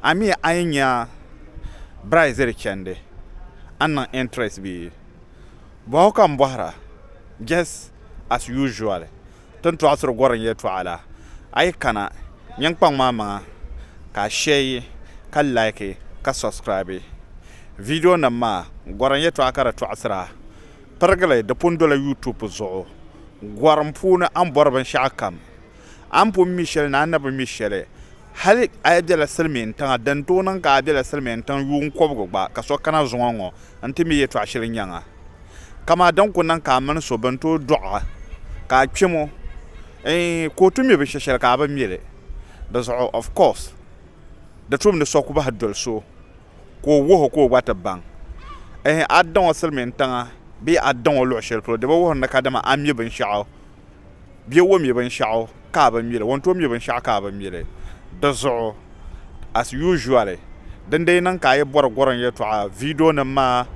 Ami a yi nya Brazil chandi a ni niŋ interest bee? Bɔhu ka n bɔhira just as usual tin tɔɣisiri gɔrim yɛltɔɣa la. A yi kana nyin kpaŋ maa maŋa ka a share ka like ka subscribe video nim maa gɔrim yɛltɔɣa ka di tɔɣisira pirigili di pun dola YouTube zuɣu gɔrim puuni a ni bɔri binshɛɣu kam A ni pun mi shɛli ni a ni bi mi shɛli, hal a yi bela silimiin tiŋa, din tooi niŋ ka a bela silimiin tiŋ yuun kɔbigu gba, ka so kana zuŋɔ ŋɔ nti mi yɛtɔɣ shili nyaŋ a. Kamaa din ku niŋ ka a mini so bɛn tooi dɔɣi a, ka a kpɛm o, eeh, kootu mi binshɛ shɛli ka a bi mi li. Di zuɣu, of course, di tum ni so ku bahi doli so ka o wuhi o ka o gba ti baŋ. Eeh, a daŋ o silimiin tiŋa bee a daŋ o luɣ shɛli polo, di bi wuhiri ni kadama a mi binshɛɣu bɛ o mi binshɛɣu ka a bi mi li, o ni tooi mi binshɛɣu ka a bi mi li. Di zuɣu, as usually, din dii niŋ ka a yi bɔri gɔrim yɛltɔɣa viidionima maa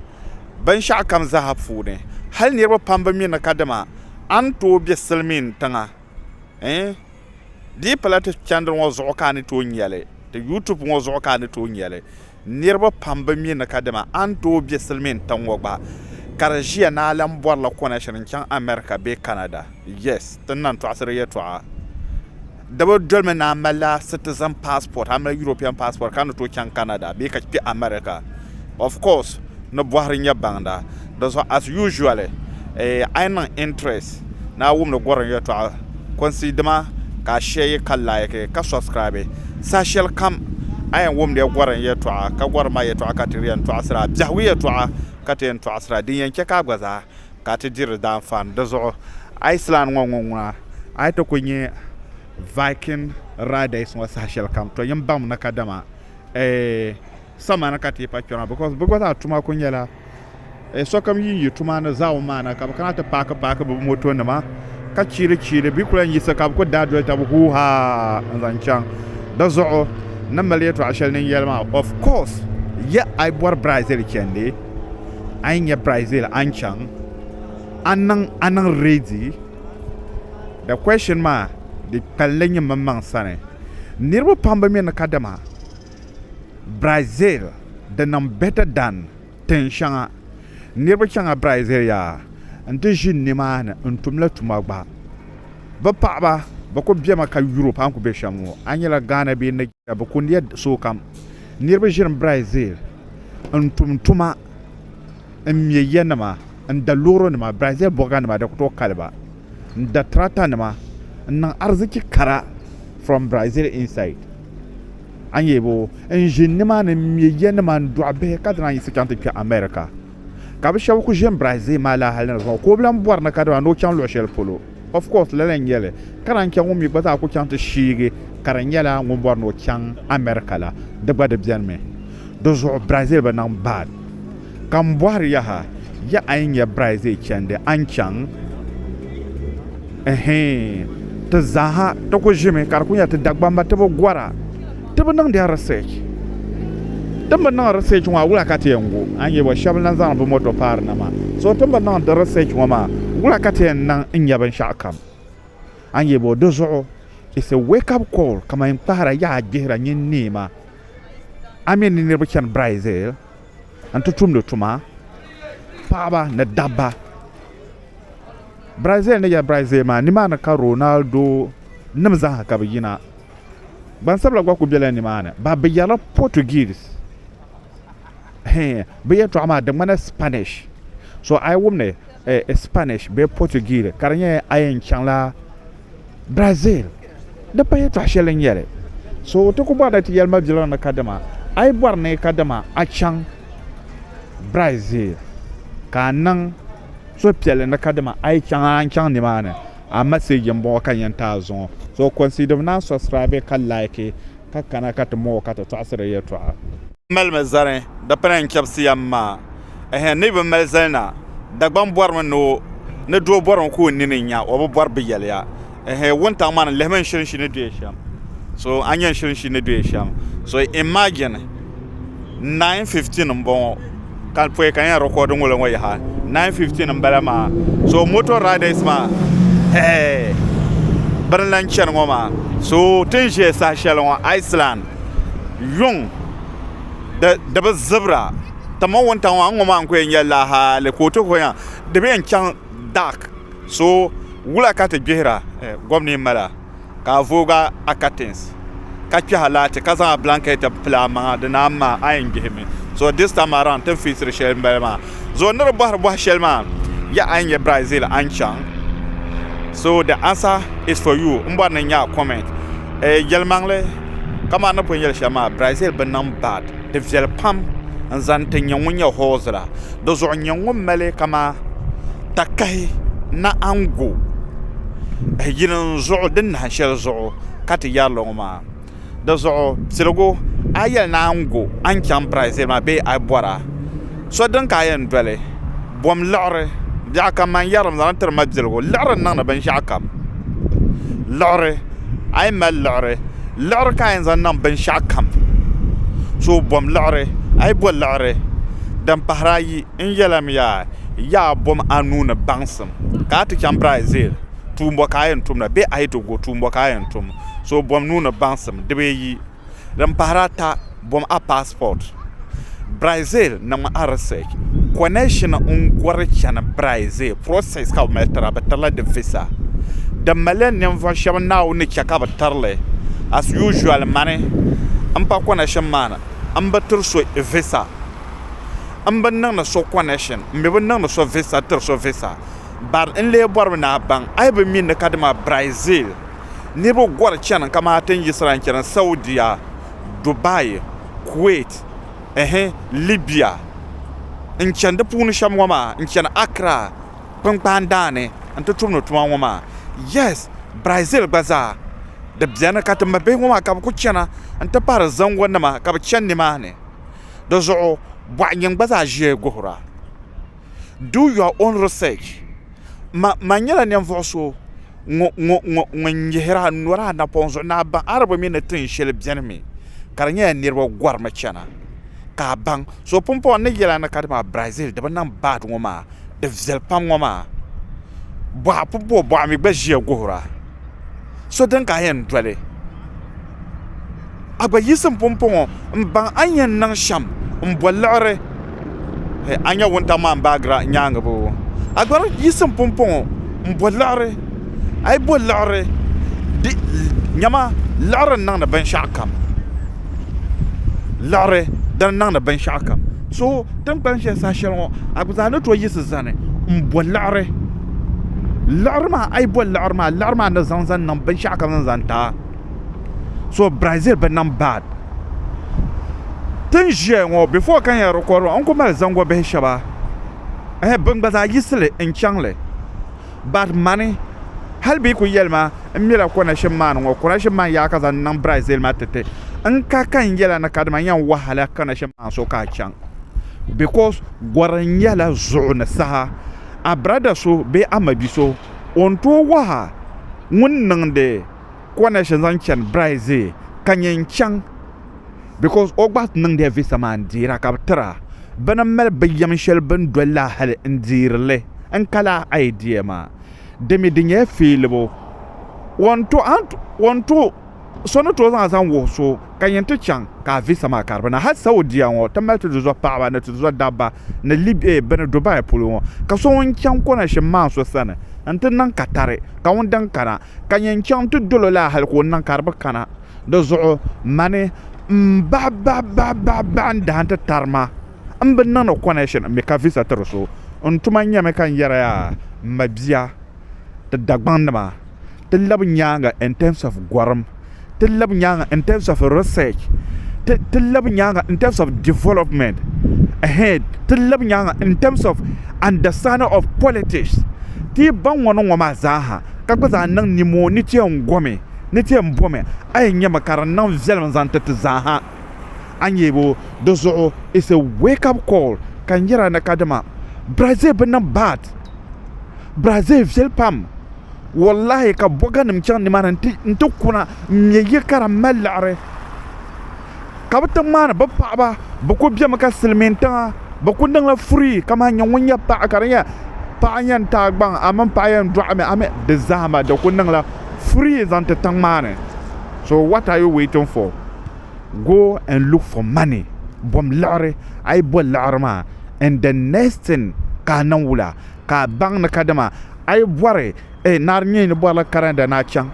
binshɛɣu kam zaaha puuni, hali niriba pam bi mi ni ka dama a ni tooi be silimiin tiŋa eh, di yi pala ti chɛndiri ŋɔ zuɣu ka a ni tooi nya li, ti YouTube ŋɔ zuɣu ka a ni tooi nya li. Niriba pam bi mi ni kadama a ni tooi be silimiin tiŋ ŋɔ gba ka di ʒiya ni a lan bɔrila connection n-chaŋ America bee Canada. Yes, ti ni lan tɔɣisiri yɛltɔɣa. Di bi dolimi ni a malila citizen passport, a mali European passport ka a ni tooi chaŋ Canada bee ka kpe America. Of course, ni bɔhiri nyɛ baŋda. Di zuɣu as usually a yi niŋ interest ni a wumdi Gɔrim Yɛltɔɣa kɔnsi dima ka a share ka like ka subscribe saha shɛli kam a yɛn wumdiya Gɔrim Yɛltɔɣa ka Gɔrim maa Yɛltɔɣa ka ti di yɛn tɔɣisira a biɛhigu Yɛltɔɣa ka ti yɛn tɔɣisira din yɛn chɛ ka a gba zaa ka a ti diri di daanfaani di zuɣu Iceland ŋɔ ŋɔ ŋuna a ni ti kuli nyɛ Viking riders ŋɔ saha shɛli kam to yɛn baŋmi ni kadama eeh samani ka tipa kpɛma because bɛ gba zaa tuma kuli nyɛla eh, sokam yi yi tuma ni zaawun maa na ka bɛ kana ti paaki paaki bɛ moto nima ka chiili chiili bɛ kuli yiɣisi ka bɛ kuli daa doli tabi huu haa n zaŋ chaŋ di zuɣu ni mali yɛltɔɣa shɛli ni yɛli maa of course ya a yi bɔri Brazil chɛndi a yi nyɛ Brazil a ni chaŋ a niŋ a niŋ ready the question maa di kpalinli nyɛ mmaŋ sani niriba pam bi mi ni kadama Brazil di niŋ better than tin shɛŋa niriba chaŋla Brazil yaa n ti ʒi nimaani n tumla tuma gba bɛ paɣaba bɛ kuli bemi ka Europe a ni kuli be shɛm ŋɔ a nyɛla Ghana bee Nigeria bɛ kuli nya sookam niriba ʒini Brazil n tum tuma n me ya nima n da loori nima Brazil bɔga nima di ku tooi kali ba n da tractor nima n niŋ ariziki kara from Brazil inside. a nyɛ bo n ʒi nimaani n ŋmɛ ya nima n dɔɣi bihi ka zaŋ a yiɣisi chaŋ ti kpɛ America ka bi shɛba kuli ʒini Brazil maa laa hali na zuɣu ka o bi lan bɔri ni kadama ni o chaŋ luɣ shɛli polo of course lala n-nyɛ li ka lahi chɛ ŋun mi gba zaa kuli chaŋ ti shiigi ka di nyɛla ŋun bɔri ni o chaŋ America la di gba di benimi di zuɣu Brazil bi niŋ bad Ka m bɔhiri yaha, ya a yi nya Brizay chandi, a ni chaŋ? Ɛhɛɛn! Ti zaaha ti ku ʒimi ka di ku nya ti Dagbamba ti bi gɔra. Ti bi niŋdi research. Ti ni bi niŋ research ŋɔ a wula ka ti yɛn gu? A ni nya bɔ shɛba lan zaŋdi bɛ moto paari na maa. So ti ni bi niŋ di research ŋɔ maa wula ka ti yɛn niŋ n-nya binshɛɣu kam? A ni nya bɔ di zuɣu it's a wake up call kaman n kpahira yaha gbihira nyin neema a mi ni niriba chani Brizay. n ti tumdi tuma, paɣaba ni dabba. Brazil ni yɛli Brazil maa, nimaani ka Ronaldo nim zaaha ka bi yina. Gbansabila gba ku bela nimaani. Ba bi yɛrila Portuguese. Hee, bi yɛltɔɣa maa di ŋmanila Spanish. So a yi wumdi eh, Spanish bee Portuguese ka di nyɛ a yɛn chaŋla Brazil di pa yɛltɔɣa shɛli n yɛli so ti ku bɔrila ti yɛli mabiligu ni kadama a yi bɔri ni kadama a chaŋ Brazil ka a niŋ suhupiɛlli ni kadama a yi chaŋ a ni chaŋ nimaani a maseeji n bɔŋɔ ka n yɛn taai zuŋɔ so consider naan subscribe ka like ka kana ka ti mooi ka ti tɔɣisiri yɛltɔɣa N malimi zani, dipina n-chɛbisi ya m-maa. Ɛhɛn, ni yi bi mali zali na, Dagbaŋ bɔrimi ni o, ni doo bɔrimi ka o nini nya, o bi bɔri bi yɛli ya. Ɛhɛn, wuntaŋ maa ni, lihimi n shilinshi ni duya shɛm. So, a nya n shilinshi ni duya shɛm? So, imagine, 9:15 m-bɔŋɔ, ka pɔi ka n yɛn record ŋɔ la ŋɔ yaha, 9:15 m-bala maa. So, motor riders maa, hɛɛ, bɛ ni lan chani ŋɔ maa. So, ti ni ʒiya saha shɛli ŋɔ, Iceland. Luŋ di bi zibira kamani wuntaŋ ŋɔ a ni ŋɔ maa n ku yɛn nyɛ lahaali ka o ti vuya di bi yɛn chaŋ dak so wula ka ti gbihira gobni n mala ka a voogi a katins ka kpɛhi laati ka zaŋ a bilankɛt pili a maŋa di naan ŋmaai a yɛn gbihimi so dis taim araun ti ni fiisiri shɛli n bala maa zuɣu ni di bɔhiri bɔhi shɛli maa yaɣa a ni nyɛ Brazil a ni chaŋ so the answer is for you n bɔri ni n nya a comment eh, yɛlimaŋli kamani ni pun yɛli shɛm maa Brazil bi niŋ bad di viɛli pam n zani ti nyɛ ŋun nyɛ host la di zuɣu n nyɛ ŋun mali kama takahi naɣangu eh, yini n zuɣu din nahin shɛli zuɣu ka ti yɛri li ŋɔ maa di zuɣu piligu a yi yɛli ni a ni gu a ni chaŋ Brazil maa bee a bɔra so dini ka a yɛn doli bom liɣiri biɛɣu kam maa n yɛrili mi zaŋ tiri ma biligu liɣiri n niŋdi binshɛɣu kam liɣiri a yi mali liɣiri liɣiri ka a yɛn zaŋ niŋ binshɛɣu kam so bom liɣiri a yi bo liɣiri din pahiri ayi n yɛlimiya yaa bom anu ni baŋsim ka a ti chaŋ Brazil tuumbo ka a yɛn tumda bee a yi ti gu tuumbo ka a yɛn tum, so o bom nuuni baŋsim di bee yi. Din pahiri ata, bom a passport. Brazil niŋmi a research, connection n gɔri chani Brazil, process ka bɛ mali tira, bɛ tirila di visa. Di maliya ninvuɣu shɛba Naawuni ni chɛ ka bɛ tirili, as usual mani m pa connection maa ni, m bi tiri so visa, m bi niŋdi so connection, m mi bi niŋdi so visa tiri so visa, Bari n lee bɔrimi ni a baŋ a yi bi mi ni kadama Brazil niriba gɔri chani kamaa tin yiɣisira n-chani Saudia, Dubai, Kuwait, ɛhɛ, Libya n-chani di puuni shɛm ŋɔ maa n-chani Accra kpinkpaan daa ni n-ti tumdi tuma ŋɔ maa. Yes, Brazil gba zaa di beni ka timma bihi ŋɔ maa ka bɛ kuli chana n-ti pahi di zaŋgo nima ka bɛ chani nimaani. Di zuɣu bɔɣinyini gba zaa ʒiya guhira. Do your own research Ma ma nyɛla ninvuɣu so ŋun nyihira nɔri a napɔŋ zuɣu ni a baŋ Arabu mi ni tin shɛli beni mi ka di nyɛla niriba gɔrimi chana ka a baŋ so pumpɔŋɔ ni yɛla ni ka dama Brazil di bi niŋ bad ŋɔ maa di viɛli pam ŋɔ maa bɔɣa pumpɔŋɔ bɔɣa mi gba ʒiya guhira. so din ka a yɛn doli a gba yiɣisim pumpɔŋɔ n baŋ a ni yɛn niŋ shɛm n boli liɣiri hee a ni nyɛ wuntaŋ maa ni baagira nyaangi boo a gba yiɣisim pumpɔŋɔ n bo liɣiri a yi bo liɣiri niɛma liɣiri n niŋdi binshaɣu kam liɣiri di ni niŋdi binshaɣu kam so tinkpan shɛli saha shɛli ŋɔ a gba zaa ni tooi yiɣisi zani n bo liɣiri liɣiri maa a yi boli liɣiri maa liɣiri maa ni zaŋ zaŋ niŋ binshaɣu ka zaŋ zaŋ taai so brazil bi niŋ bad tin ʒiya ŋɔ bifo ka n yɛn rikɔri maa n ku mali zaŋ bihi shɛba bin gba zaa yiɣisili n chaŋli bad mani hali bee ku yɛli ma n mila konaship maan ŋɔ konaship maan yaai ka zaŋ niŋ brazil maa ti ti n ka ka n yɛla ni kadama n yɛn wahala konaship maan so ka a chaŋ bikos gɔri nyɛla zuɣu ni saha a brada so bee a mabi so o ni tooi waha ŋun niŋdi connection zaŋ chani Brazil ka nyɛ n chaŋ because o gba niŋdila visa maa n deera ka bi tira bɛ ni mali binyɛm shɛli bini dolila hali n deeri li n ka lahi idea maa dimi di nyɛla feelibu o ni to So ni tooi zaŋ a zaŋ wuhi so ka yin ti chaŋ ka a visa maa kari bɛ na. Hal Saudia ŋɔ, ti mali ti duzɔh paɣiba ni ti duzɔh dabba ni li bɛ ni Dubai polo ŋɔ, ka so ŋun chaŋ konashim maa so sani nti niŋ katari, ka ŋun din kana ka nyɛ n-chaŋ ti dol o laa hal ka o niŋ ka di bi kana. Di zuɣu mani m-baɣibaɣibaɣibaɣi n dahin ti tari ma m bi niŋdi konashin mi ka visa tiri so. N tuma nyɛmi ka n yɛri ya, m ma bia, ti Dagbaŋ nima ti labi nyaaŋa in terms of gɔrim ti labi nyaaŋa in terms of research ti labi nyaaŋa in terms of development ti labi nyaaŋa in terms of understanding of politics ti yi baŋ ŋɔ ni ŋɔ maa zaaha ka gba zaa niŋ nimoo ni ti yɛn gomi ni ti yɛn bomi a yɛn nyɛmi ka di niŋ viɛlim zaŋ ti ti zaaha a nyɛ bo di zuɣu it's a wake up call ka n yɛra ni kadama Brazil bi niŋ bat Brazil viɛli pam wallahi ka boga nim chaŋ nimaani n ti kuna n nyɛ ya ka di mali liɣiri ka bi tiŋ maa ni bi paɣaba bi ku biɛmi ka silmiin tiŋa bi ku niŋla furii kamani nyɛ ŋun nyɛ paɣa ka di nyɛ paɣa yɛn taai gbaŋ a mini paɣa yɛn doɣami a mii di zahama di ku niŋla furii zaŋ ti tiŋ maa ni so what are you waiting for go and look for money bom liɣiri a yi bo liɣiri maa and the next thing ka a niŋ wula ka a baŋ ni kadama a yi bɔri eh, naari nyɛ ni bɔrila Canada ni a chaŋ,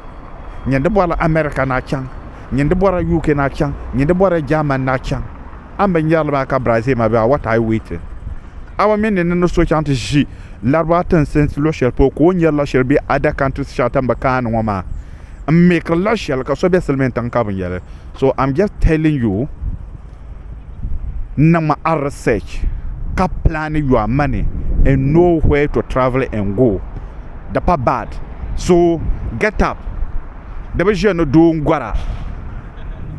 nyɛ ni bɔrila America ni a chaŋ, nyɛ ni bɔrila UK ni a chaŋ, nyɛ ni bɔrila Germany ni a chaŋ. A ni bi nyari li maa ka Brazil ma be a, what are you waiting? A ba mi ni ni ni so chaŋ ti ʒi Laribawa tinsinsi luɣ shɛli polo ka o nyari la shɛli be other countries shɛŋa ti ni bi kaani ŋɔ maa n-make li la shɛli ka so be silimiintiŋ ka bi nyali. So I'm just telling you. n niŋ ma a research ka plan your money and know where to travel and go di pa bad so get up di bi ʒiya ni doo n gɔra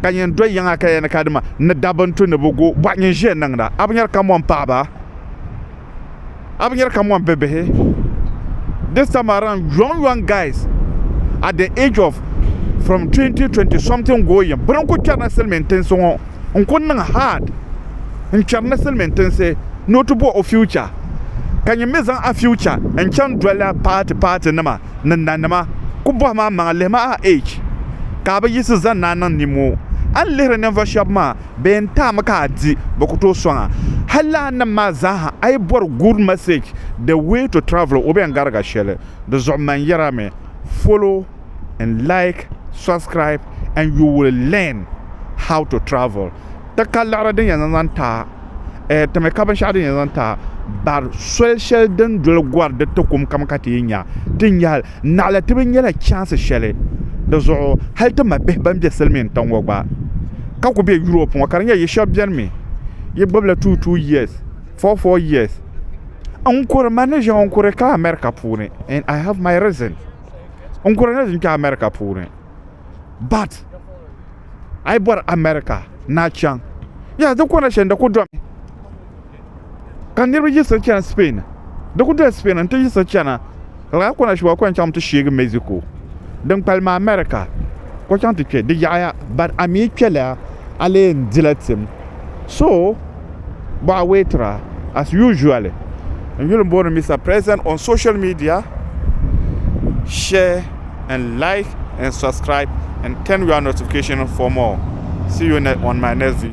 ka nyin do yiŋa ka yɛli ni kadama ni dabba n tu ni bi go bɔhi nyin ʒiya niŋda a bi nyari ka mɔni paɣaba a bi nyɛri ka mɔni bɛ bihi this time around young young guys at the age of from 2020 something going bini n ku kpɛri ni silmiin tinsi ŋɔ n ku niŋ hard n kpɛri ni silmiin tinsi ni o ti bo o future ka nyin mi zaŋ a future n chaŋ doli a paati paati nima ni nanima ku bɔhim a maŋa lihimi a age ka a bi yiɣisi zani ni a niŋ nimo a ni lihiri ninvuɣu shɛba maa bɛ yɛn taami ka a di bɛ ku tooi sɔŋ a. Hal lala nim maa zaaha a yi bɔri good message the way to travel o bɛn gariga shɛli di zuɣu man yɛra mi follow and like subscribe and you will learn how to travel ti ka liɣiri din yɛn zaŋ zaŋ ti a eh timi ka binshɛɣu din yɛn zaŋ ti a bari soli shɛli din doli gɔri di ti kum kam ka ti yi nya ti nya hal Naɣila tibi nyɛla chɛnsi shɛli di zuɣu hali ti ma bihi ban be silimiin tiŋ ŋɔ gba ka ku be Europe ŋɔ ka di nyɛ yi shɛba beni mi yi gbibila two two years, four four years. N kuri man ni ʒiɛŋ n kuri ka America puuni and I have my reason n kuri ni n kpe America puuni but a yi bɔri America ni a chaŋ yes di kɔna shɛli di ku domi. ka niriba yiɣisi chana Spain di ku doli Spain n-ti yiɣisi chana ka lala kɔna shɛba kɔŋ chaŋ ti sheegi Mexico din kpalim America ka chaŋ ti kpe di yaɣiya ban a mi kpɛla a lee yɛn dila tim so bɔɣa weetira as usually n yuli m-booni Mister President on social media share and like and subscribe and turn your notification for more see you on my next video